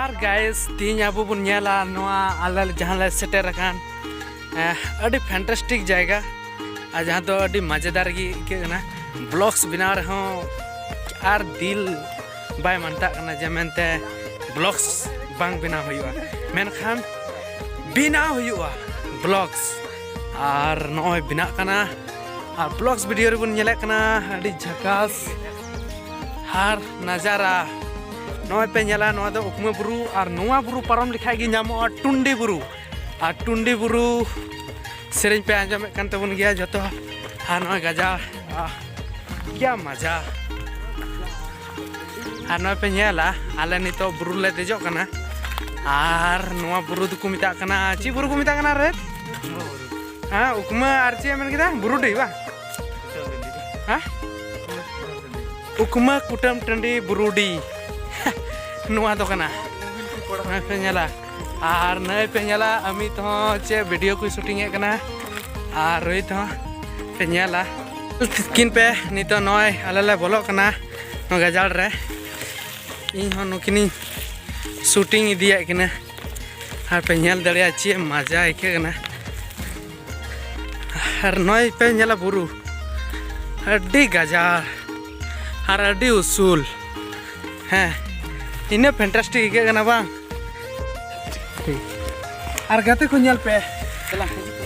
ᱟᱨ ᱜᱟᱭᱮᱥ ᱛᱤᱦᱤᱧ ᱟᱵᱚ ᱵᱚᱱ ᱧᱮᱞᱟ ᱱᱚᱣᱟ ᱟᱞᱮ ᱡᱟᱦᱟᱸ ᱞᱮ ᱥᱮᱴᱮᱨ ᱟᱠᱟᱱ ᱟᱹᱰᱤ ᱯᱷᱮᱱᱴᱟᱥᱴᱤᱠ ᱡᱟᱭᱜᱟ ᱟᱨ ᱡᱟᱦᱟᱸ ᱫᱚ ᱟᱹᱰᱤ ᱢᱟᱡᱮᱫᱟᱨ ᱜᱮ ᱟᱹᱭᱠᱟᱹᱜ ᱠᱟᱱᱟ ᱵᱞᱚᱜᱥ ᱵᱮᱱᱟᱣ ᱨᱮᱦᱚᱸ ᱟᱨ ᱫᱤᱞ ᱵᱟᱭ ᱢᱟᱱᱛᱟᱜ ᱠᱟᱱᱟ ᱡᱮ ᱢᱮᱱᱛᱮ ᱵᱞᱚᱜᱥ ᱵᱟᱝ ᱵᱮᱱᱟᱣ ᱦᱩᱭᱩᱜᱼᱟ ᱢᱮᱱᱠᱷᱟᱱ ᱵᱮᱱᱟᱣ ᱦᱩᱭᱩᱜᱼᱟ ᱵᱞᱚᱜᱥ ᱟᱨ ᱱᱚᱜᱼᱚᱭ ᱵᱮᱱᱟᱜ ᱠᱟᱱᱟ ᱟᱨ ᱵᱞᱚᱜᱥ ᱵᱷᱤᱰᱤᱭᱳ ᱨᱮᱵᱚᱱ ᱧᱮᱞᱮᱫ ᱠᱟᱱᱟ ᱟᱹᱰᱤ ᱡᱷᱟᱠᱟᱥ ᱟᱨ ᱱᱟᱡᱟᱨᱟ ᱱᱚᱜᱼᱚᱭ ᱯᱮ ᱧᱮᱞᱟ ᱱᱚᱣᱟ ᱫᱚ ᱩᱠᱢᱟᱹ ᱵᱩᱨᱩ ᱟᱨ ᱱᱚᱣᱟ ᱵᱩᱨᱩ ᱯᱟᱨᱚᱢ ᱞᱮᱠᱷᱟᱡ ᱜᱮ ᱧᱟᱢᱚᱜᱼᱟ ᱴᱩᱱᱰᱤ ᱵᱩᱨᱩ ᱟᱨ ᱴᱩᱱᱰᱤ ᱵᱩᱨᱩ ᱥᱮᱨᱮᱧ ᱯᱮ ᱟᱸᱡᱚᱢᱮᱫ ᱠᱟᱱ ᱛᱟᱵᱚᱱ ᱜᱮᱭᱟ ᱡᱚᱛᱚ ᱟᱨ ᱱᱚᱜᱼᱚᱭ ᱜᱟᱡᱟ ᱠᱤᱭᱟ ᱢᱟᱡᱟ ᱟᱨ ᱱᱚᱜᱼᱚᱭ ᱯᱮ ᱧᱮᱞᱟ ᱟᱞᱮ ᱱᱤᱛᱚᱜ ᱵᱩᱨᱩ ᱞᱮ ᱫᱮᱡᱚᱜ ᱠᱟᱱᱟ ᱟᱨ ᱱᱚᱣᱟ ᱵᱩᱨᱩ ᱫᱚᱠᱚ ᱢᱮᱛᱟᱜ ᱠᱟᱱᱟ ᱪᱮᱫ ᱵᱩᱨᱩ ᱠᱚ ᱢᱮᱛᱟᱜ ᱠᱟᱱᱟ ᱨᱮ ᱦᱮᱸ ᱩᱠᱢᱟᱹ ᱟᱨ ᱪᱮᱫ ᱢᱮᱱ ᱠᱮᱫᱟ ᱵᱩᱨᱩᱰᱤ ᱵᱟᱝ ᱦᱮᱸ ᱩᱠᱢᱟᱹ ᱠᱩᱴᱟᱹᱢ ᱴᱟᱺᱰᱤ ᱵᱩᱨᱩᱰᱤ ᱱᱚᱣᱟ ᱫᱚ ᱠᱟᱱᱟ ᱱᱚᱜᱼᱚᱭ ᱯᱮ ᱧᱮᱞᱟ ᱟᱨ ᱱᱚᱜᱼᱚᱭ ᱯᱮ ᱧᱮᱞᱟ ᱟᱢᱤᱛ ᱦᱚᱸ ᱪᱮᱫ ᱵᱷᱤᱰᱤᱭᱳ ᱠᱚᱭ ᱥᱩᱴᱤᱝ ᱮᱫ ᱠᱟᱱᱟ ᱟᱨ ᱨᱳᱦᱤᱛ ᱦᱚᱸ ᱯᱮ ᱧᱮᱞᱟ ᱛᱤᱠᱤᱱ ᱯᱮ ᱱᱤᱛᱚᱜ ᱱᱚᱜᱼᱚᱭ ᱟᱞᱮ ᱞᱮ ᱵᱚᱞᱚᱜ ᱠᱟᱱᱟ ᱱᱚᱣᱟ ᱜᱟᱡᱟᱲ ᱨᱮ ᱤᱧ ᱦᱚᱸ ᱱᱩᱠᱤᱱᱤᱧ ᱥᱩᱴᱤᱝ ᱤᱫᱤᱭᱮᱫ ᱠᱤᱱᱟᱹ ᱟᱨ ᱯᱮ ᱧᱮᱞ ᱫᱟᱲᱮᱭᱟᱜᱼᱟ ᱪᱮᱫ ᱢᱟᱡᱟ ᱟᱹᱭᱠᱟᱹᱜ ᱠᱟᱱᱟ ᱟᱨ ᱱᱚᱜᱼᱚᱭ ᱯᱮ ᱧᱮᱞᱟ ᱵᱩᱨᱩ ᱟᱹᱰᱤ ᱜᱟᱡᱟᱲ ᱟᱨ ᱟᱹᱰᱤ ᱩᱥᱩᱞ ᱦᱮᱸ ᱤᱱᱟᱹ ᱯᱷᱮᱱᱴᱟᱥᱴᱤᱠ ᱟᱹᱭᱠᱟᱹᱜ ᱠᱟᱱᱟ ᱵᱟᱝ ᱴᱷᱤᱠ ᱟᱨ ᱜᱟᱛᱮ ᱠᱚ ᱧᱮᱞ ᱯᱮ ᱫᱮᱞᱟ ᱦᱤᱡᱩᱜ ᱯᱮ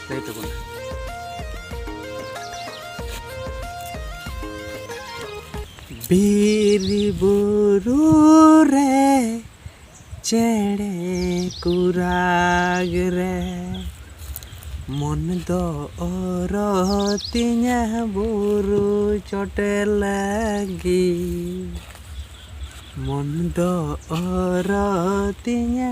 ᱞᱟᱹᱭ ᱛᱟᱵᱚᱱ ᱵᱤᱨ ᱵᱩᱨᱩ ᱨᱮ ᱪᱮᱬᱮ ᱠᱚ ᱨᱟᱜᱽ ᱨᱮ ᱢᱚᱱ ᱫᱚ ᱚᱨᱚ ᱛᱤᱧᱟᱹ ᱵᱩᱨᱩ ᱪᱚᱴᱮ ᱞᱟᱹᱜᱤᱫ ᱢᱚᱱ ᱫᱚ ᱚᱨᱚ ᱛᱤᱧᱟᱹ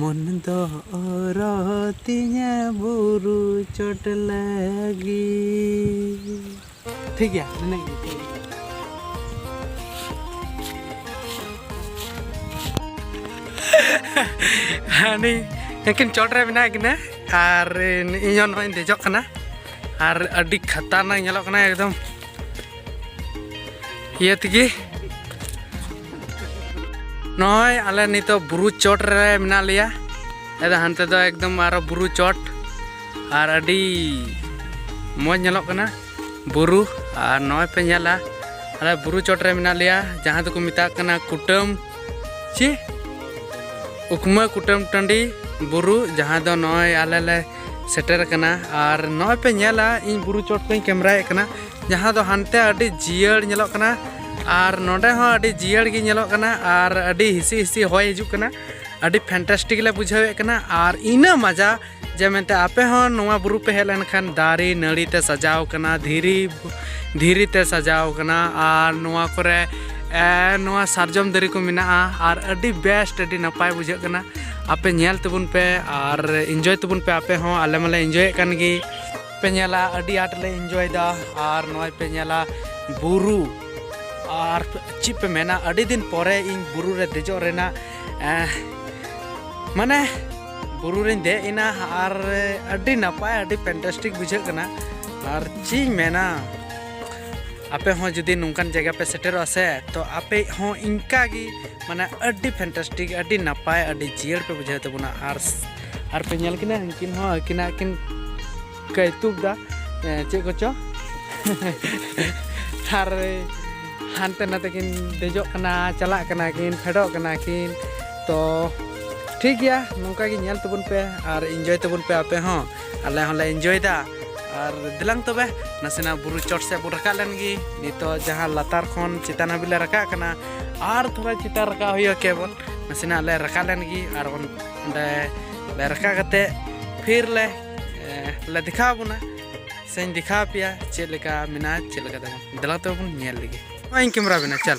ᱢᱚᱱ ᱫᱚ ᱚᱨᱚ ᱛᱤᱧᱟᱹ ᱵᱩᱨᱩ ᱪᱚᱴ ᱞᱟᱹᱜᱤᱫ ᱴᱷᱤᱠ ᱜᱮᱭᱟ ᱱᱤᱱᱟᱹᱜ ᱜᱮ ᱦᱟᱹᱱᱤ ᱮᱠᱤᱱ ᱪᱚᱴ ᱨᱮ ᱢᱮᱱᱟᱜ ᱠᱤᱱᱟ ᱟᱨ ᱤᱧ ᱦᱚᱸ ᱱᱚᱜᱼᱚᱭ ᱤᱧ ᱫᱮᱡᱚᱜ ᱠᱟᱱᱟ ᱟᱨ ᱟᱹᱰᱤ ᱠᱷᱟᱛᱟᱨᱱᱟᱠ ᱧᱮᱞᱚᱜ ᱠᱟᱱᱟ ᱮᱠᱫᱚᱢ ᱤᱭᱟᱹ ᱛᱮᱜᱮ ᱱᱚᱜᱼᱚᱭ ᱟᱞᱮ ᱱᱤᱛᱚᱜ ᱵᱩᱨᱩ ᱪᱚᱴ ᱨᱮ ᱢᱮᱱᱟᱜ ᱞᱮᱭᱟ ᱟᱫᱚ ᱦᱟᱱᱛᱮ ᱫᱚ ᱮᱠᱫᱚᱢ ᱟᱨᱚ ᱵᱩᱨᱩ ᱪᱚᱴ ᱟᱨ ᱟᱹᱰᱤ ᱢᱚᱡᱽ ᱧᱮᱞᱚᱜ ᱠᱟᱱᱟ ᱵᱩᱨᱩ ᱟᱨ ᱱᱚᱜᱼᱚᱭ ᱯᱮ ᱧᱮᱞᱟ ᱟᱞᱮ ᱵᱩᱨᱩ ᱪᱚᱴ ᱨᱮ ᱢᱮᱱᱟᱜ ᱞᱮᱭᱟ ᱡᱟᱦᱟᱸ ᱫᱚᱠᱚ ᱢᱮᱛᱟᱜ ᱠᱟᱱᱟ ᱠᱩᱴᱟᱹᱢ ᱪᱮ ᱩᱠᱢᱟᱹ ᱠᱩᱴᱟᱹᱢ ᱴᱟᱺᱰᱤ ᱵᱩᱨᱩ ᱡᱟᱦᱟᱸ ᱫᱚ ᱱᱚᱜᱼᱚᱭ ᱟᱞᱮ ᱞᱮ ᱥᱮᱴᱮᱨ ᱟᱠᱟᱱᱟ ᱟᱨ ᱱᱚᱜᱼᱚᱭ ᱯᱮ ᱧᱮᱞᱟ ᱤᱧ ᱵᱩᱨᱩ ᱪᱚᱴ ᱠᱷᱚᱱᱤᱧ ᱠᱮᱢᱨᱟᱭᱮᱫ ᱠᱟᱱᱟ ᱡᱟᱦᱟᱸ ᱫᱚ ᱦᱟᱱᱛᱮ ᱟᱹᱰᱤ ᱡᱤᱭᱟᱹᱲ ᱧᱮᱞᱚᱜ ᱠᱟᱱᱟ ᱟᱨ ᱱᱚᱰᱮ ᱦᱚᱸ ᱟᱹᱰᱤ ᱡᱤᱭᱟᱹᱲ ᱜᱮ ᱧᱮᱞᱚᱜ ᱠᱟᱱᱟ ᱟᱨ ᱟᱹᱰᱤ ᱦᱤᱥᱤ ᱦᱤᱥᱤ ᱦᱚᱭ ᱦᱤᱡᱩᱜ ᱠᱟᱱᱟ ᱟᱹᱰᱤ ᱯᱷᱮᱱᱴᱟᱥᱴᱤᱠ ᱞᱮ ᱵᱩᱡᱷᱟᱹᱣᱮᱫ ᱠᱟᱱᱟ ᱟᱨ ᱤᱱᱟᱹ ᱢᱟᱡᱟ ᱡᱮ ᱢᱮᱱᱛᱮ ᱟᱯᱮ ᱦᱚᱸ ᱱᱚᱣᱟ ᱵᱩᱨᱩ ᱯᱮ ᱦᱮᱡ ᱞᱮᱱᱠᱷᱟᱱ ᱫᱟᱨᱮ ᱱᱟᱹᱲᱤ ᱛᱮ ᱥᱟᱡᱟᱣ ᱠᱟᱱᱟ ᱫᱷᱤᱨᱤ ᱫᱷᱤᱨᱤ ᱛᱮ ᱥᱟᱡᱟᱣ ᱠᱟᱱᱟ ᱟᱨ ᱱᱚᱣᱟ ᱠᱚᱨᱮ ᱱᱚᱣᱟ ᱥᱟᱨᱡᱚᱢ ᱫᱟᱨᱮ ᱠᱚ ᱢᱮᱱᱟᱜᱼᱟ ᱟᱨ ᱟᱹᱰᱤ ᱵᱮᱥᱴ ᱟᱹᱰᱤ ᱱᱟᱯᱟᱭ ᱵᱩᱡᱷᱟᱹᱜ ᱠᱟᱱᱟ ᱟᱯᱮ ᱧᱮᱞ ᱛᱟᱵᱚᱱ ᱯᱮ ᱟᱨ ᱤᱱᱡᱚᱭ ᱛᱟᱵᱚᱱ ᱯᱮ ᱟᱯᱮ ᱦᱚᱸ ᱟᱞᱮ ᱢᱟᱞᱮ ᱤᱱᱡᱚᱭᱮᱫ ᱠᱟᱱ ᱜᱮ ᱯᱮ ᱧᱮᱞᱟ ᱟᱹᱰᱤ ᱟᱸᱴ ᱞᱮ ᱤᱱᱡᱚᱭᱮᱫᱟ ᱟᱨ ᱱᱚᱜᱼᱚᱭ ᱯᱮ ᱧᱮᱞᱟ ᱵᱩᱨᱩ ᱟᱨ ᱪᱮᱫ ᱯᱮ ᱢᱮᱱᱟ ᱟᱹᱰᱤ ᱫᱤᱱ ᱯᱚᱨᱮ ᱤᱧ ᱵᱩᱨᱩ ᱨᱮ ᱫᱮᱡᱚᱜ ᱨᱮᱱᱟᱜ ᱢᱟᱱᱮ ᱵᱩᱨᱩ ᱨᱮᱧ ᱫᱮᱡ ᱮᱱᱟ ᱟᱨ ᱟᱹᱰᱤ ᱱᱟᱯᱟᱭ ᱟᱹᱰᱤ ᱯᱷᱮᱱᱴᱟᱥᱴᱤᱠ ᱵᱩᱡᱷᱟᱹᱜ ᱠᱟᱱᱟ ᱟᱨ ᱪᱮᱫ ᱤᱧ ᱢᱮᱱᱟ ᱟᱯᱮ ᱦᱚᱸ ᱡᱩᱫᱤ ᱱᱚᱝᱠᱟᱱ ᱡᱟᱭᱜᱟ ᱯᱮ ᱥᱮᱴᱮᱨᱚᱜᱼᱟ ᱥᱮ ᱛᱚ ᱟᱯᱮ ᱦᱚᱸ ᱤᱱᱠᱟ ᱜᱮ ᱢᱟᱱᱮ ᱟᱹᱰᱤ ᱯᱷᱮᱱᱴᱟᱥᱴᱤᱠ ᱟᱹᱰᱤ ᱱᱟᱯᱟᱭ ᱟᱹᱰᱤ ᱡᱤᱭᱟᱹᱲ ᱯᱮ ᱵᱩᱡᱷᱟᱹᱣ ᱛᱟᱵᱚᱱᱟ ᱟᱨ ᱟᱨ ᱯᱮ ᱧᱮᱞ ᱠᱤᱱᱟ ᱩᱱᱠᱤᱱ ᱦᱚᱸ ᱟᱹᱠᱤᱱᱟᱜ ᱠᱤᱱ ᱠᱟᱹᱭᱛᱩᱠ ᱫᱟ ᱪᱮᱫ ᱠᱚᱪᱚ ᱟᱨ ᱦᱟᱱᱛᱮ ᱱᱟᱛᱮ ᱠᱤᱱ ᱫᱮᱡᱚᱜ ᱠᱟᱱᱟ ᱪᱟᱞᱟᱜ ᱠᱟᱱᱟ ᱠᱤᱱ ᱯᱷᱮᱰᱚᱜ ᱠᱟᱱᱟ ᱠᱤᱱ ᱛᱚ ᱴᱷᱤᱠ ᱜᱮᱭᱟ ᱱᱚᱝᱠᱟ ᱜᱮ ᱧᱮᱞ ᱛᱟᱵᱚᱱ ᱯᱮ ᱟᱨ ᱤᱱᱡᱚᱭ ᱛᱟᱵᱚᱱ ᱯᱮ ᱟᱯᱮ ᱦᱚᱸ ᱟᱞᱮ ᱦᱚᱸᱞᱮ ᱮᱱᱡᱚᱭᱮᱫᱟ ᱟᱨ ᱫᱮᱞᱟᱝ ᱛᱚᱵᱮ ᱱᱟᱥᱮᱱᱟᱜ ᱵᱩᱨᱩ ᱪᱚᱴ ᱥᱮᱫ ᱵᱚᱱ ᱨᱟᱠᱟᱵ ᱞᱮᱱ ᱜᱮ ᱱᱤᱛᱚᱜ ᱡᱟᱦᱟᱸ ᱞᱟᱛᱟᱨ ᱠᱷᱚᱱ ᱪᱮᱛᱟᱱ ᱦᱟᱹᱵᱤᱡ ᱞᱮ ᱨᱟᱠᱟᱵ ᱠᱟᱱᱟ ᱟᱨ ᱛᱷᱚᱲᱟ ᱪᱮᱛᱟᱱ ᱨᱟᱠᱟᱵ ᱦᱩᱭᱩᱜᱼᱟ ᱠᱮᱵᱚᱞ ᱱᱟᱥᱮᱱᱟᱜ ᱞᱮ ᱨᱟᱠᱟᱵ ᱞᱮᱱ ᱜᱮ ᱟᱨ ᱚᱸᱰᱮ ᱞᱮ ᱨᱟᱠᱟᱵ ᱠᱟᱛᱮ ᱯᱷᱤᱨ ᱞᱮ ᱞᱮ ᱫᱮᱠᱷᱟᱣ ᱵᱚᱱᱟ ᱥᱮᱧ ᱫᱮᱠᱷᱟᱣ ᱯᱮᱭᱟ ᱪᱮᱫ ᱞᱮᱠᱟ ᱢᱮᱱᱟᱜᱼᱟ ᱪᱮᱫ ᱞᱮᱠᱟ ᱛᱟᱵᱚᱱ ᱫᱮᱞᱟ ᱛᱚᱵᱮ ᱵᱚᱱ ᱧᱮᱞ ᱞᱮᱜᱮ ᱱᱚᱜᱼᱚᱭ ᱠᱮᱢᱮᱨᱟ ᱵᱮᱱᱟ ᱪᱟᱞ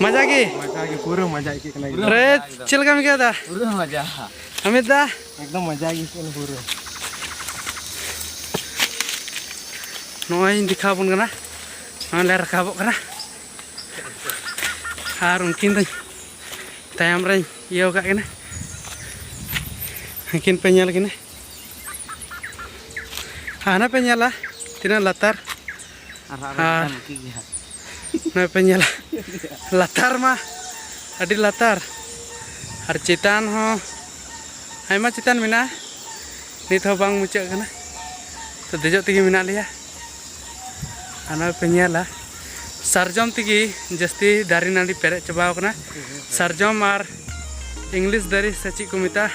ᱢᱟᱡᱟ ᱜᱮ ᱢᱟᱡᱟ ᱜᱮ ᱯᱩᱨᱟᱹ ᱢᱟᱡᱟ ᱟᱹᱭᱠᱟᱹᱜ ᱠᱟᱱᱟ ᱨᱮ ᱪᱮᱫ ᱞᱮᱠᱟᱢ ᱟᱹᱭᱠᱟᱹᱣ ᱫᱟ ᱯᱩᱨᱟᱹ ᱢᱟᱡᱟ ᱟᱢᱤᱛ ᱫᱟ ᱮᱠᱫᱚᱢ ᱢᱟᱡᱟ ᱜᱮ ᱟᱹᱭᱠᱟᱹᱜ ᱠᱟᱱᱟ ᱯᱩᱨᱟᱹ ᱱᱚᱜᱼᱚᱭ ᱫᱮᱠᱷᱟᱣ ᱵᱚᱱ ᱠᱟᱱᱟ ᱱᱚᱜᱼᱚᱭ ᱞᱮ ᱨᱟᱠᱟᱵᱚᱜ ᱠᱟᱱᱟ ᱟᱨ ᱩᱱᱠᱤᱱ ᱫᱚ ᱛᱟᱭᱚᱢ ᱨᱮᱧ ᱤᱭᱟᱹ ᱟᱠᱟᱫ ᱠᱤᱱᱟ ᱩᱱᱠᱤᱱ ᱯᱮ ᱧᱮᱞ ᱠᱤᱱᱟ ᱦᱟᱱᱟ ᱯᱮ ᱧᱮᱞᱟ ᱛᱤᱱᱟᱹᱜ ᱞᱟᱛᱟᱨ ᱟᱨ ᱱᱚᱜᱼᱚᱭ ᱯᱮ ᱧᱮᱞᱟ ᱞᱟᱛᱟᱨ ᱢᱟ ᱟᱹᱰᱤ ᱞᱟᱛᱟᱨ ᱟᱨ ᱪᱮᱛᱟᱱ ᱦᱚᱸ ᱟᱭᱢᱟ ᱪᱮᱛᱟᱱ ᱢᱮᱱᱟᱜᱼᱟ ᱱᱤᱛ ᱦᱚᱸ ᱵᱟᱝ ᱢᱩᱪᱟᱹᱫ ᱠᱟᱱᱟ ᱛᱚ ᱫᱮᱡᱚᱜ ᱛᱮᱜᱮ ᱢᱮᱱᱟᱜ ᱞᱮᱭᱟ ᱟᱨ ᱱᱚᱜᱼᱚᱭ ᱯᱮ ᱧᱮᱞᱟ ᱥᱟᱨᱡᱚᱢ ᱛᱮᱜᱮ ᱡᱟᱹᱥᱛᱤ ᱫᱟᱨᱮ ᱱᱟᱹᱲᱤ ᱯᱮᱨᱮᱡ ᱪᱟᱵᱟᱣ ᱠᱟᱱᱟ ᱥᱟᱨᱡᱚᱢ ᱟᱨ ᱤᱝᱞᱤᱥ ᱫᱟᱨᱮ ᱥᱮ ᱪᱮᱫ ᱠᱚ ᱢᱮᱛᱟᱜᱼᱟ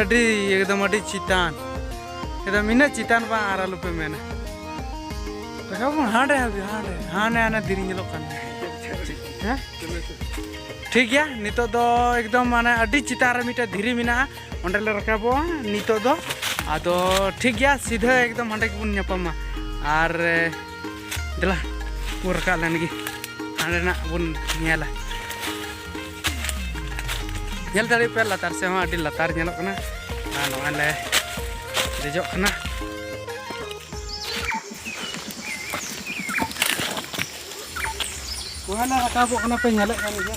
ᱟᱹᱰᱤ ᱮᱠᱫᱚᱢ ᱟᱹᱰᱤ ᱪᱮᱛᱟᱱ ᱮᱠᱫᱚᱢ ᱤᱱᱟᱹᱜ ᱪᱮᱛᱟᱱ ᱵᱟᱝ ᱟᱨ ᱟᱞᱚᱯᱮ ᱢᱮᱱᱟ ᱨᱟᱠᱟᱵ ᱵᱚᱱ ᱦᱟᱸᱰᱮ ᱦᱟᱸᱰᱮ ᱦᱟᱸᱰᱮ ᱦᱟᱸᱰᱮ ᱦᱟᱸᱰᱮ ᱫᱷᱤᱨᱤ ᱧᱮᱞᱚᱜ ᱠᱟᱱ ᱦᱮᱸ ᱴᱷᱤᱠ ᱜᱮᱭᱟ ᱱᱤᱛᱚᱜ ᱫᱚ ᱮᱠᱫᱚᱢ ᱢᱟᱱᱮ ᱟᱹᱰᱤ ᱪᱮᱛᱟᱱ ᱨᱮ ᱢᱤᱫᱴᱮᱱ ᱫᱷᱤᱨᱤ ᱢᱮᱱᱟᱜᱼᱟ ᱚᱸᱰᱮ ᱞᱮ ᱨᱟᱠᱟᱵᱚᱜᱼᱟ ᱱᱤᱛᱚᱜ ᱫᱚ ᱟᱫᱚ ᱴᱷᱤᱠ ᱜᱮᱭᱟ ᱥᱤᱫᱷᱟᱹ ᱮᱠᱫᱚᱢ ᱦᱟᱸᱰᱮ ᱜᱮᱵᱚᱱ ᱧᱟᱯᱟᱢᱟ ᱟᱨ ᱫᱮᱞᱟ ᱵᱚᱱ ᱨᱟᱠᱟᱵ ᱞᱮᱱ ᱜᱮ ᱦᱟᱸᱰᱮᱱᱟᱜ ᱵᱚᱱ ᱧᱮᱞᱟ ᱧᱮᱞ ᱫᱟᱲᱮ ᱯᱮ ᱞᱟᱛᱟᱨ ᱥᱮ ᱦᱚᱸ ᱟᱹᱰᱤ ᱞᱟᱛᱟᱨ ᱧᱮᱞᱚᱜ ᱠᱟᱱᱟ ᱟᱨ ᱱᱚᱜᱼᱚᱭ ᱞᱮ ᱫᱮᱡᱚᱜ ᱠᱟᱱᱟ ᱱᱚᱜᱼᱚᱭ ᱞᱮ ᱨᱟᱠᱟᱵᱚᱜ ᱠᱟᱱᱟ ᱯᱮ ᱧᱮᱞᱮᱫ ᱠᱟᱱ ᱜᱮᱭᱟ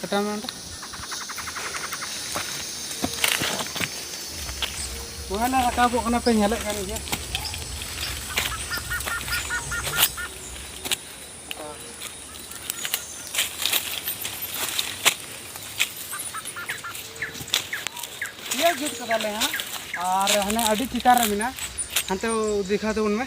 ᱠᱟᱴᱟᱣ ᱢᱮ ᱚᱸᱰᱮ ᱱᱚᱜᱼᱚᱭ ᱞᱮ ᱨᱟᱠᱟᱵᱚᱜ ᱠᱟᱱᱟ ᱯᱮ ᱧᱮᱞᱮᱫ ᱠᱟᱱ ᱜᱮᱭᱟ ᱤᱭᱟᱹ ᱡᱩᱛ ᱠᱟᱫᱟᱞᱮ ᱦᱟᱸᱜ ᱟᱨ ᱦᱟᱱᱮ ᱟᱹᱰᱤ ᱪᱮᱛᱟᱱ ᱨᱮ ᱢᱮᱱᱟᱜᱼᱟ ᱦᱟᱱᱛᱮ ᱫᱮᱠᱷᱟᱣ ᱛᱟᱵᱚᱱ ᱢᱮ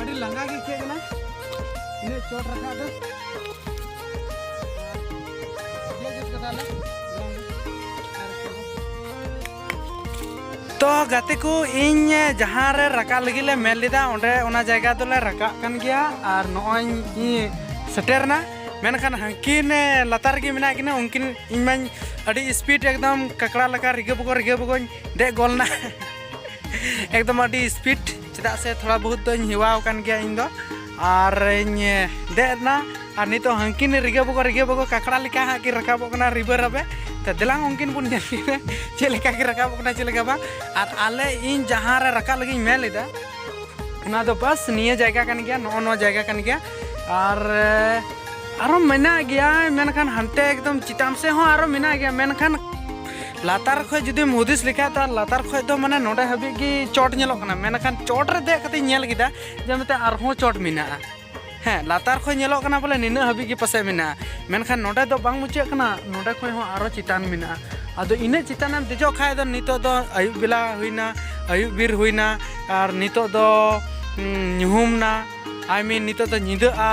ᱟᱹᱰᱤ ᱞᱟᱸᱜᱟ ᱜᱮ ᱟᱹᱭᱠᱟᱹᱜ ᱠᱟᱱᱟ ᱤᱱᱟᱹ ᱪᱚᱴ ᱨᱟᱠᱟᱵ ᱫᱚ ᱛᱚ ᱜᱟᱛᱮ ᱠᱚ ᱤᱧ ᱡᱟᱦᱟᱸ ᱨᱮ ᱨᱟᱠᱟᱵ ᱞᱟᱹᱜᱤᱫ ᱞᱮ ᱢᱮᱱ ᱞᱮᱫᱟ ᱚᱸᱰᱮ ᱚᱱᱟ ᱡᱟᱭᱜᱟ ᱫᱚᱞᱮ ᱨᱟᱠᱟᱵ ᱠᱟᱱ ᱜᱮᱭᱟ ᱟᱨ ᱱᱚᱜᱼᱚᱭ ᱤᱧ ᱥᱮᱴᱮᱨᱱᱟ ᱢᱮᱱᱠᱷᱟᱱ ᱦᱟᱹᱱᱠᱤᱱ ᱞᱟᱛᱟᱨ ᱨᱮᱜᱮ ᱢᱮᱱᱟᱜ ᱠᱤᱱᱟ ᱩᱱᱠᱤᱱ ᱤᱧ ᱢᱟᱧ ᱟᱹᱰᱤ ᱥᱯᱤᱰ ᱮᱠᱫᱚᱢ ᱠᱟᱠᱲᱟ ᱞᱮᱠᱟ ᱨᱤᱜᱟᱹ ᱵᱩᱜᱟᱹ ᱨᱤᱜᱟᱹ ᱵᱩᱜᱟᱹᱧ ᱫᱮᱡ ᱜᱚᱞ ᱱᱟ ᱮᱠᱫᱚᱢ ᱟᱹᱰᱤ ᱥᱯᱤᱰ ᱪᱮᱫᱟᱜ ᱥᱮ ᱛᱷᱚᱲᱟ ᱵᱚᱦᱩᱛ ᱫᱚᱧ ᱦᱮᱣᱟ ᱟᱠᱟᱱ ᱜᱮᱭᱟ ᱤᱧ ᱫᱚ ᱟᱨᱤᱧ ᱫᱮᱡ ᱮᱱᱟ ᱟᱨ ᱱᱤᱛᱚᱜ ᱦᱟᱹᱱᱠᱤᱱ ᱨᱤᱜᱟᱹ ᱵᱚᱜᱚ ᱨᱤᱜᱟᱹ ᱵᱚᱜᱚ ᱠᱟᱠᱲᱟ ᱞᱮᱠᱟ ᱦᱟᱸᱜ ᱠᱤᱱ ᱨᱟᱠᱟᱵᱚᱜ ᱠᱟᱱᱟ ᱨᱤᱵᱟᱹ ᱨᱟᱵᱮ ᱛᱚ ᱫᱮᱞᱟᱝ ᱩᱱᱠᱤᱱ ᱵᱚᱱ ᱧᱮᱞ ᱠᱤᱱᱟ ᱪᱮᱫ ᱞᱮᱠᱟ ᱠᱤᱱ ᱨᱟᱠᱟᱵᱚᱜ ᱠᱟᱱᱟ ᱪᱮᱫ ᱞᱮᱠᱟ ᱵᱟᱝ ᱟᱨ ᱟᱞᱮ ᱤᱧ ᱡᱟᱦᱟᱸ ᱨᱮ ᱨᱟᱠᱟᱵ ᱞᱟᱹᱜᱤᱫ ᱢᱮᱱ ᱞᱮᱫᱟ ᱚᱱᱟ ᱫᱚ ᱵᱟᱥ ᱱᱤᱭᱟᱹ ᱡᱟᱭᱜᱟ ᱠᱟᱱ ᱜᱮᱭᱟ ᱱᱚᱜᱼᱚ ᱱᱚᱣᱟ ᱡᱟᱭᱜᱟ ᱠᱟᱱ ᱜᱮᱭᱟ ᱟᱨ ᱟᱨᱚ ᱢᱮᱱᱟᱜ ᱜᱮᱭᱟ ᱢᱮᱱᱠᱷᱟᱱ ᱦᱟᱱᱛᱮ ᱮᱠᱫᱚᱢ ᱪᱮᱛᱟᱱ ᱥᱮᱫ ᱦᱚᱸ ᱟᱨᱚ ᱢᱮᱱᱟᱜ ᱜᱮᱭᱟ ᱢᱮᱱᱠᱷᱟᱱ ᱞᱟᱛᱟᱨ ᱠᱷᱚᱡ ᱡᱩᱫᱤᱢ ᱦᱩᱫᱤᱥ ᱞᱮᱠᱷᱟᱡ ᱛᱚ ᱞᱟᱛᱟᱨ ᱠᱷᱚᱡ ᱫᱚ ᱢᱟᱱᱮ ᱱᱚᱰᱮ ᱦᱟᱹᱵᱤᱡ ᱜᱮ ᱪᱚᱴ ᱧᱮᱞᱚᱜ ᱠᱟᱱᱟ ᱢᱮᱱᱠᱷᱟᱱ ᱪᱚᱴ ᱨᱮ ᱫᱮᱡ ᱠᱟᱛᱮᱧ ᱧᱮᱞ ᱠᱮᱫᱟ ᱡᱮ ᱢᱤᱫᱴᱮᱱ ᱟᱨᱦᱚᱸ ᱪᱚᱴ ᱢᱮᱱᱟᱜᱼᱟ ᱦᱮᱸ ᱞᱟᱛᱟᱨ ᱠᱷᱚᱡ ᱧᱮᱞᱚᱜ ᱠᱟᱱᱟ ᱵᱚᱞᱮ ᱱᱤᱱᱟᱹᱜ ᱦᱟᱹᱵᱤᱡ ᱜᱮ ᱯᱟᱥᱮᱡ ᱢᱮᱱᱟᱜᱼᱟ ᱢᱮᱱᱠᱷᱟᱱ ᱱᱚᱰᱮ ᱫᱚ ᱵᱟᱝ ᱢᱩᱪᱟᱹᱫ ᱠᱟᱱᱟ ᱱᱚᱰᱮ ᱠᱷᱚᱡ ᱦᱚᱸ ᱟᱨᱚ ᱪᱮᱛᱟᱱ ᱢᱮᱱᱟᱜᱼᱟ ᱟᱫᱚ ᱤᱱᱟᱹᱜ ᱪᱮᱛᱟᱱᱮᱢ ᱫᱮᱡᱚᱜ ᱠᱷᱟᱡ ᱫᱚ ᱱᱤᱛᱚᱜ ᱫᱚ ᱟᱹᱭᱩᱵ ᱵᱮᱞᱟ ᱦᱩᱭᱱᱟ ᱟᱹᱭᱩᱵ ᱵᱮᱨ ᱦᱩᱭᱱᱟ ᱟᱨ ᱱᱤᱛᱚᱜ ᱫᱚ ᱧᱩᱦᱩᱢ ᱮᱱᱟ ᱟᱭ ᱢᱤᱱ ᱱᱤᱛᱚᱜ ᱫᱚ ᱧᱤᱫᱟᱹᱜᱼᱟ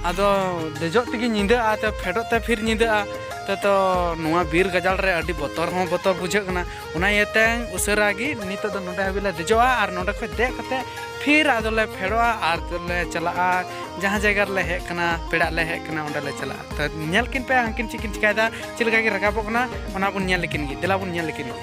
ᱟᱫᱚ ᱫᱮᱡᱚᱜ ᱛᱮᱜᱮ ᱧᱤᱫᱟᱹᱜᱼᱟ ᱛᱚ ᱯᱷᱮᱰᱚᱜ ᱛᱮ ᱯᱷᱤᱨ ᱧᱤᱫᱟᱹᱜᱼᱟ ᱛᱚ ᱛᱚ ᱱᱚᱣᱟ ᱵᱤᱨ ᱜᱟᱡᱟᱲ ᱨᱮ ᱟᱹᱰᱤ ᱵᱚᱛᱚᱨ ᱦᱚᱸ ᱵᱚᱛᱚᱨ ᱵᱩᱡᱷᱟᱹᱜ ᱠᱟᱱᱟ ᱚᱱᱟ ᱤᱭᱟᱹᱛᱮ ᱩᱥᱟᱹᱨᱟ ᱜᱮ ᱱᱤᱛᱚᱜ ᱫᱚ ᱱᱚᱰᱮ ᱦᱟᱹᱵᱤᱡ ᱞᱮ ᱫᱮᱡᱚᱜᱼᱟ ᱟᱨ ᱱᱚᱰᱮ ᱠᱷᱚᱱ ᱫᱮᱡ ᱠᱟᱛᱮ ᱯᱷᱤᱨ ᱟᱫᱚ ᱞᱮ ᱯᱷᱮᱰᱚᱜᱼᱟ ᱟᱨ ᱞᱮ ᱪᱟᱞᱟᱜᱼᱟ ᱡᱟᱦᱟᱸ ᱡᱟᱭᱜᱟ ᱨᱮᱞᱮ ᱦᱮᱡ ᱠᱟᱱᱟ ᱯᱮᱲᱟᱜ ᱞᱮ ᱦᱮᱡ ᱠᱟᱱᱟ ᱚᱸᱰᱮ ᱞᱮ ᱪᱟᱞᱟᱜᱼᱟ ᱛᱚ ᱧᱮᱞ ᱠᱤᱱ ᱯᱮ ᱦᱟᱹᱱᱠᱤᱱ ᱪᱮᱫ ᱠᱤᱱ ᱪᱤᱠᱟᱹᱭᱮᱫᱟ ᱪᱮᱫ ᱞᱮᱠᱟ ᱠᱤᱱ ᱨᱟᱠᱟᱵᱚᱜ ᱠᱟᱱᱟ ᱚᱱᱟ ᱵᱚᱱ ᱧᱮᱞ ᱞᱮᱠᱤᱱ ᱜᱮ ᱫᱮᱞᱟ ᱵᱚᱱ ᱧᱮᱞ ᱞᱮᱠᱤᱱ ᱜᱮ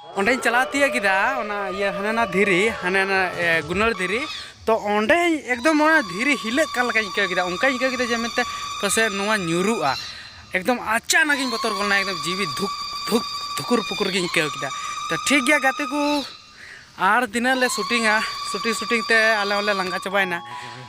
ᱚᱸᱰᱮᱧ ᱪᱟᱞᱟᱣ ᱛᱤᱭᱟᱹᱜ ᱠᱮᱫᱟ ᱚᱱᱟ ᱤᱭᱟᱹ ᱦᱟᱱᱟ ᱱᱟ ᱫᱷᱤᱨᱤ ᱦᱟᱱᱟ ᱱᱟ ᱜᱩᱱᱟᱹᱲ ᱫᱷᱤᱨᱤ ᱛᱚ ᱚᱸᱰᱮ ᱮᱠᱫᱚᱢ ᱚᱱᱟ ᱫᱷᱤᱨᱤ ᱦᱤᱞᱟᱹᱜ ᱠᱟᱱ ᱞᱮᱠᱟᱧ ᱟᱹᱭᱠᱟᱹᱣ ᱠᱮᱫᱟ ᱚᱱᱠᱟᱧ ᱟᱹᱭᱠᱟᱹᱣ ᱠᱮᱫᱟ ᱡᱮ ᱢᱮᱱᱛᱮ ᱯᱟᱥᱮᱡ ᱱᱚᱣᱟ ᱧᱩᱨᱩᱜᱼᱟ ᱮᱠᱫᱚᱢ ᱟᱪᱟᱱᱚᱠ ᱤᱧ ᱵᱚᱛᱚᱨ ᱜᱚᱫ ᱮᱱᱟ ᱮᱠᱫᱚᱢ ᱡᱤᱣᱤ ᱫᱷᱩᱠ ᱫᱷᱩᱠ ᱫᱷᱩᱠᱩᱨ ᱯᱩᱠᱩᱨ ᱜᱤᱧ ᱟᱹᱭᱠᱟᱹᱣ ᱠᱮᱫᱟ ᱛᱚ ᱴᱷᱤᱠ ᱜᱮᱭᱟ ᱜᱟᱛᱮ ᱠᱚ ᱟᱨ ᱛᱤᱱᱟᱹᱜ ᱞᱮ ᱥᱩᱴᱤᱝᱟ ᱥᱩᱴᱤᱝ ᱥᱩᱴᱤᱝ ᱛᱮ ᱟᱞᱮ ᱦᱚᱸᱞᱮ ᱞᱟᱸᱜᱟ ᱪᱟᱵᱟᱭᱮᱱᱟ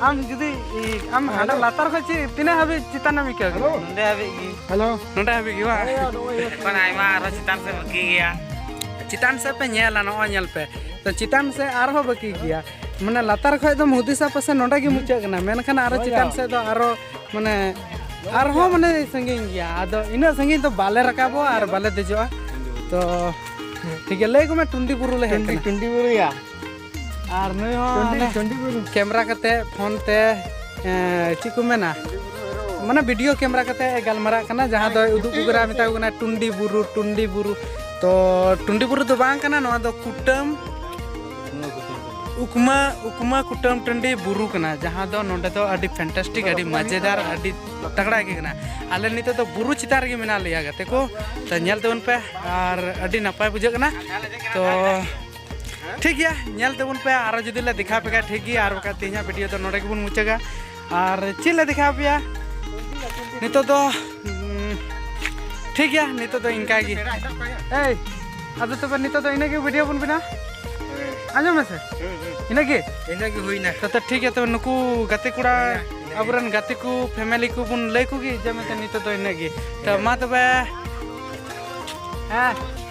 ᱟᱢ ᱡᱩᱫᱤ ᱟᱢ ᱦᱟᱸᱰᱮ ᱞᱟᱛᱟᱨ ᱠᱷᱚᱱ ᱪᱮᱫ ᱛᱤᱱᱟᱹᱜ ᱦᱟᱹᱵᱤᱡ ᱪᱮᱛᱟᱱ ᱮᱢ ᱟᱹᱭᱠᱟᱹᱣ ᱠᱮᱫᱟ ᱱᱚᱸᱰᱮ ᱦᱟᱹᱵᱤᱡ ᱜᱮ ᱦᱮᱞᱳ ᱱᱚᱸᱰᱮ ᱦᱟᱹᱵᱤᱡ ᱜᱮ ᱵᱟᱝ ᱮᱠᱷᱚᱱ ᱟᱭᱢᱟ ᱟᱨᱦᱚᱸ ᱪᱮᱛᱟᱱ ᱥᱮᱫ ᱵᱟᱹᱠᱤ ᱜᱮᱭᱟ ᱪᱮᱛᱟᱱ ᱥᱮᱫ ᱯᱮ ᱧᱮᱞᱟ ᱱᱚᱜᱼᱚᱭ ᱧᱮᱞ ᱯᱮ ᱛᱚ ᱪᱮᱛᱟᱱ ᱥᱮᱫ ᱟᱨᱦᱚᱸ ᱵᱟᱹᱠᱤ ᱜᱮᱭᱟ ᱢᱟᱱᱮ ᱞᱟᱛᱟᱨ ᱠᱷᱚᱡ ᱫᱚᱢ ᱦᱩᱫᱤᱥᱟ ᱯᱟᱥᱮ ᱱᱚᱸᱰᱮ ᱜᱮ ᱢᱩᱪᱟᱹᱫ ᱠᱟᱱᱟ ᱢᱮᱱᱠᱷᱟᱱ ᱟᱨᱦᱚᱸ ᱪᱮᱛᱟᱱ ᱥᱮᱫ ᱫᱚ ᱟᱨᱦᱚᱸ ᱢᱟᱱᱮ ᱟᱨᱦᱚᱸ ᱢᱟᱱᱮ ᱥᱟᱺᱜᱤᱧ ᱜᱮᱭᱟ ᱟᱫᱚ ᱤᱱᱟᱹᱜ ᱥᱟᱺᱜᱤᱧ ᱫᱚ ᱵᱟᱞᱮ ᱨᱟᱠᱟᱵᱚᱜᱼᱟ ᱟᱨ ᱵᱟᱞᱮ ᱫᱮᱡᱚᱜᱼᱟ ᱛᱚ ᱴᱷᱤᱠ ᱜᱮᱭᱟ ᱞᱟᱹᱭ ᱠᱚᱢᱮ ᱴᱩᱱᱰᱤ ᱵᱩᱨᱩ ᱞᱮ ᱦᱮᱡ ᱠᱟᱱᱟ ᱴᱩᱱᱰᱤ ᱵᱩᱨᱩᱭᱟ ᱟᱨ ᱱᱩᱭ ᱦᱚᱸ ᱠᱮᱢᱮᱨᱟ ᱠᱟᱛᱮ ᱯᱷᱳᱱ ᱛᱮ ᱪᱮᱫ ᱠᱚ ᱢᱮᱱᱟ ᱢᱟᱱᱮ ᱵᱷᱤᱰᱤᱭᱳ ᱠᱮᱢᱮᱨᱟ ᱠᱟᱛᱮ ᱜᱟᱞᱢᱟᱨᱟᱜ ᱠᱟᱱᱟ ᱡᱟᱦᱟᱸ ᱫᱚ ᱩᱫᱩᱜ ᱠᱚ ᱠᱟᱱᱟ ᱢᱮᱛᱟ ᱠᱚ ᱠᱟᱱᱟ ᱴᱩᱱᱰᱤ ᱵᱩᱨᱩ ᱴᱩᱱᱰᱤ ᱵᱩᱨᱩ ᱛᱚ ᱴᱩᱱᱰᱤ ᱵᱩᱨᱩ ᱫᱚ ᱵᱟᱝ ᱠᱟᱱᱟ ᱱᱚᱣᱟ ᱫᱚ ᱠᱩᱴᱟᱹᱢ ᱩᱠᱢᱟ ᱩᱠᱢᱟ ᱠᱩᱴᱟᱹᱢ ᱴᱟᱺᱰᱤ ᱵᱩᱨᱩ ᱠᱟᱱᱟ ᱡᱟᱦᱟᱸ ᱫᱚ ᱱᱚᱰᱮ ᱫᱚ ᱟᱹᱰᱤ ᱯᱷᱮᱱᱴᱟᱥᱴᱤᱠ ᱟᱹᱰᱤ ᱢᱟᱡᱮᱫᱟᱨ ᱟᱹᱰᱤ ᱛᱟᱜᱲᱟ ᱜᱮ ᱠᱟᱱᱟ ᱟᱞᱮ ᱱᱤᱛᱚᱜ ᱫᱚ ᱵᱩᱨᱩ ᱪᱮᱛᱟᱱ ᱨᱮᱜᱮ ᱢᱮᱱᱟᱜ ᱞᱮᱭᱟ ᱜᱟᱛᱮ ᱠᱚ ᱛᱚ ᱧᱮᱞ ᱛᱟᱵᱚᱱ ᱯᱮ ᱟᱨ ᱟᱹᱰᱤ ᱱᱟᱯᱟᱭ ᱵᱩᱡᱷᱟᱹᱜ ᱠᱟᱱᱟ ᱛᱚ ᱴᱷᱤᱠ ᱜᱮᱭᱟ ᱧᱮᱞ ᱛᱮᱵᱚᱱ ᱯᱮ ᱟᱨᱚ ᱡᱩᱫᱤ ᱞᱮ ᱫᱮᱠᱷᱟᱣ ᱯᱮ ᱠᱷᱟᱱ ᱴᱷᱤᱠ ᱜᱮᱭᱟ ᱟᱨ ᱵᱟᱠᱷᱟᱡ ᱛᱮᱦᱮᱧᱟᱜ ᱵᱷᱤᱰᱤᱭᱳ ᱫᱚ ᱱᱚᱰᱮ ᱜᱮᱵᱚᱱ ᱢᱩᱪᱟᱹᱫᱟ ᱟᱨ ᱪᱮᱫ ᱞᱮ ᱫᱮᱠᱷᱟᱣ ᱯᱮᱭᱟ ᱱᱤᱛᱚᱜ ᱫᱚ ᱴᱷᱤᱠ ᱜᱮᱭᱟ ᱱᱤᱛᱚᱜ ᱫᱚ ᱤᱱᱠᱟ ᱜᱮ ᱮᱭ ᱟᱫᱚ ᱛᱚᱵᱮ ᱱᱤᱛᱚᱜ ᱫᱚ ᱤᱱᱟᱹᱜᱮ ᱵᱷᱤᱰᱤᱭᱳ ᱵᱚᱱ ᱵᱮᱱᱟᱣ ᱟᱸᱡᱚᱢ ᱢᱮᱥᱮ ᱤᱱᱟᱹᱜᱮ ᱤᱱᱟᱹᱜᱮ ᱦᱩᱭᱱᱟ ᱛᱚ ᱴᱷᱤᱠ ᱜᱮᱭᱟ ᱛᱚᱵᱮ ᱱᱩᱠᱩ ᱜᱟᱛᱮ ᱠᱚᱲᱟ ᱟᱵᱚᱨᱮᱱ ᱜᱟᱛᱮ ᱠᱚ ᱯᱷᱮᱢᱮᱞᱤ ᱠᱚ ᱵᱚᱱ ᱞᱟᱹᱭ ᱠᱚᱜᱮ ᱡᱮ ᱢᱮᱱᱛᱮ ᱱᱤᱛᱚᱜ ᱫᱚ ᱤᱱᱟᱹᱜᱮ ᱛᱚ ᱢᱟ ᱛᱚᱵᱮ ᱦᱮᱸ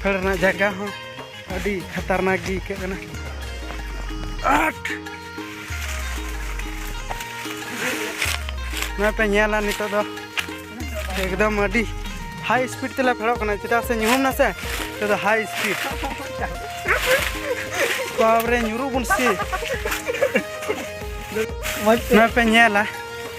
ᱯᱷᱮᱲ ᱨᱮᱱᱟᱜ ᱡᱟᱭᱜᱟ ᱦᱚᱸ ᱟᱹᱰᱤ ᱠᱷᱟᱛᱟᱨᱱᱟᱠ ᱜᱮ ᱟᱹᱭᱠᱟᱹᱜ ᱠᱟᱱᱟ ᱟᱴ ᱱᱚᱜᱼᱚᱭ ᱯᱮ ᱧᱮᱞᱟ ᱱᱤᱛᱚᱜ ᱫᱚ ᱮᱠᱫᱚᱢ ᱟᱹᱰᱤ ᱦᱟᱭ ᱥᱯᱤᱰ ᱛᱮᱞᱮ ᱯᱷᱮᱲᱚᱜ ᱠᱟᱱᱟ ᱪᱮᱫᱟᱜ ᱥᱮ ᱧᱩᱦᱩᱢ ᱱᱟᱥᱮ ᱱᱤᱛᱚᱜ ᱫᱚ ᱦᱟᱭ ᱥᱯᱤᱰ ᱵᱟᱵᱨᱮ ᱧᱩᱨᱩᱜ ᱵᱚᱱ ᱥᱮ ᱱᱚᱜᱼᱚᱭ ᱯᱮ ᱧᱮᱞᱟ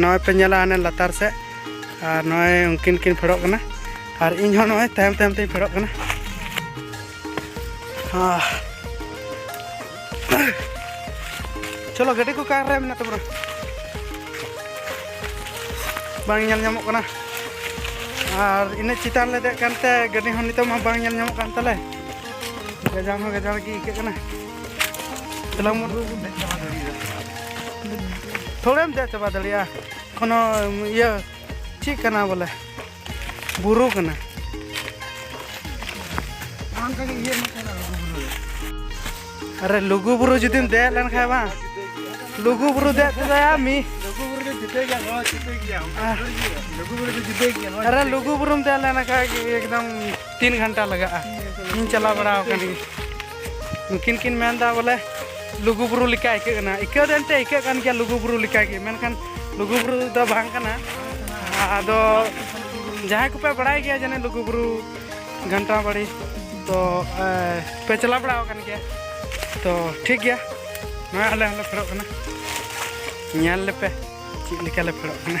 ᱱᱚᱜᱼᱚᱭ ᱯᱮ ᱧᱮᱞᱟ ᱦᱟᱱᱮ ᱞᱟᱛᱟᱨ ᱥᱮᱫ ᱟᱨ ᱱᱚᱜᱼᱚᱭ ᱩᱱᱠᱤᱱ ᱠᱤᱱ ᱯᱷᱮᱰᱚᱜ ᱠᱟᱱᱟ ᱟᱨ ᱤᱧ ᱦᱚᱸ ᱱᱚᱜᱼᱚᱭ ᱛᱟᱭᱚᱢ ᱛᱟᱭᱚᱢ ᱛᱮᱧ ᱯᱷᱮᱰᱚᱜ ᱠᱟᱱᱟ ᱪᱚᱞᱚ ᱜᱟᱹᱰᱤ ᱠᱚ ᱠᱟᱨ ᱨᱮ ᱢᱮᱱᱟᱜ ᱛᱟᱵᱚᱱᱟ ᱵᱟᱝ ᱧᱮᱞ ᱧᱟᱢᱚᱜ ᱠᱟᱱᱟ ᱟᱨ ᱤᱱᱟᱹ ᱪᱮᱛᱟᱱ ᱞᱮ ᱫᱮᱡ ᱠᱟᱱᱛᱮ ᱜᱟᱹᱰᱤ ᱦᱚᱸ ᱱᱤᱛᱚᱜ ᱢᱟ ᱵᱟᱝ ᱧᱮᱞ ᱧᱟᱢᱚᱜ ᱠᱟᱱ ᱛᱟᱞᱮ ᱜᱟᱡᱟᱲ ᱦᱚᱸ ᱜᱟᱡᱟᱲ ᱜᱮ ᱟᱹᱭᱠᱟᱹᱜ ᱠᱟᱱᱟ ᱛᱷᱚᱲᱮᱢ ᱫᱮᱡ ᱪᱟᱵᱟ ᱫᱟᱲᱮᱭᱟᱜᱼᱟ ᱠᱳᱱᱳ ᱤᱭᱟᱹ ᱪᱮᱫ ᱠᱟᱱᱟ ᱵᱚᱞᱮ ᱵᱩᱨᱩ ᱠᱟᱱᱟ ᱟᱨᱮ ᱞᱩᱜᱩ ᱵᱩᱨᱩ ᱡᱩᱫᱤᱢ ᱫᱮᱡ ᱞᱮᱱᱠᱷᱟᱱ ᱵᱟᱝ ᱞᱩᱜᱩ ᱵᱩᱨᱩ ᱫᱮᱡ ᱛᱮᱫᱚᱭᱟ ᱢᱤ ᱟᱨᱮ ᱞᱩᱜᱩ ᱵᱩᱨᱩᱢ ᱫᱮᱡ ᱞᱮᱱᱠᱷᱟᱱ ᱮᱠᱫᱚᱢ ᱛᱤᱱ ᱜᱷᱚᱱᱴᱟ ᱞᱟᱜᱟᱜᱼᱟ ᱤᱧ ᱪᱟᱞᱟᱣ ᱵᱟᱲᱟ ᱟᱠᱟᱱ ᱜᱮᱭᱟ ᱱᱩᱠᱤᱱ ᱠᱤᱱ ᱢᱮᱱ ᱫᱟ ᱵᱚᱞᱮ ᱞᱩᱜᱩ ᱵᱩᱨᱩ ᱞᱮᱠᱟ ᱟᱹᱭᱠᱟᱹᱜ ᱠᱟᱱᱟ ᱟᱹᱭᱠᱟᱹᱣ ᱫᱚ ᱮᱱᱛᱮ ᱟᱹᱭᱠᱟᱹᱜ ᱠᱟᱱ ᱜᱮᱭᱟ ᱞᱩᱜᱩ ᱵᱩᱨᱩ ᱞᱮᱠᱟ ᱜᱮ ᱢᱮᱱᱠᱷᱟᱱ ᱞᱩᱜᱩ ᱵᱩᱨᱩ ᱫᱚ ᱵᱟᱝ ᱠᱟᱱᱟ ᱟᱫᱚ ᱡᱟᱦᱟᱸᱭ ᱠᱚᱯᱮ ᱵᱟᱲᱟᱭ ᱜᱮᱭᱟ ᱡᱟᱱᱮ ᱞᱩᱜᱩ ᱵᱩᱨᱩ ᱜᱷᱟᱱᱴᱟ ᱵᱟᱲᱤ ᱛᱚ ᱯᱮ ᱪᱟᱞᱟᱣ ᱵᱟᱲᱟ ᱟᱠᱟᱱ ᱜᱮᱭᱟ ᱛᱚ ᱴᱷᱤᱠ ᱜᱮᱭᱟ ᱱᱚᱣᱟ ᱟᱞᱮ ᱦᱚᱸᱞᱮ ᱯᱷᱮᱰᱚᱜ ᱠᱟᱱᱟ ᱧᱮᱞ ᱞᱮᱯᱮ ᱪᱮᱫ ᱞᱮᱠᱟ ᱞᱮ ᱯᱷᱮᱰᱚᱜ ᱠᱟᱱᱟ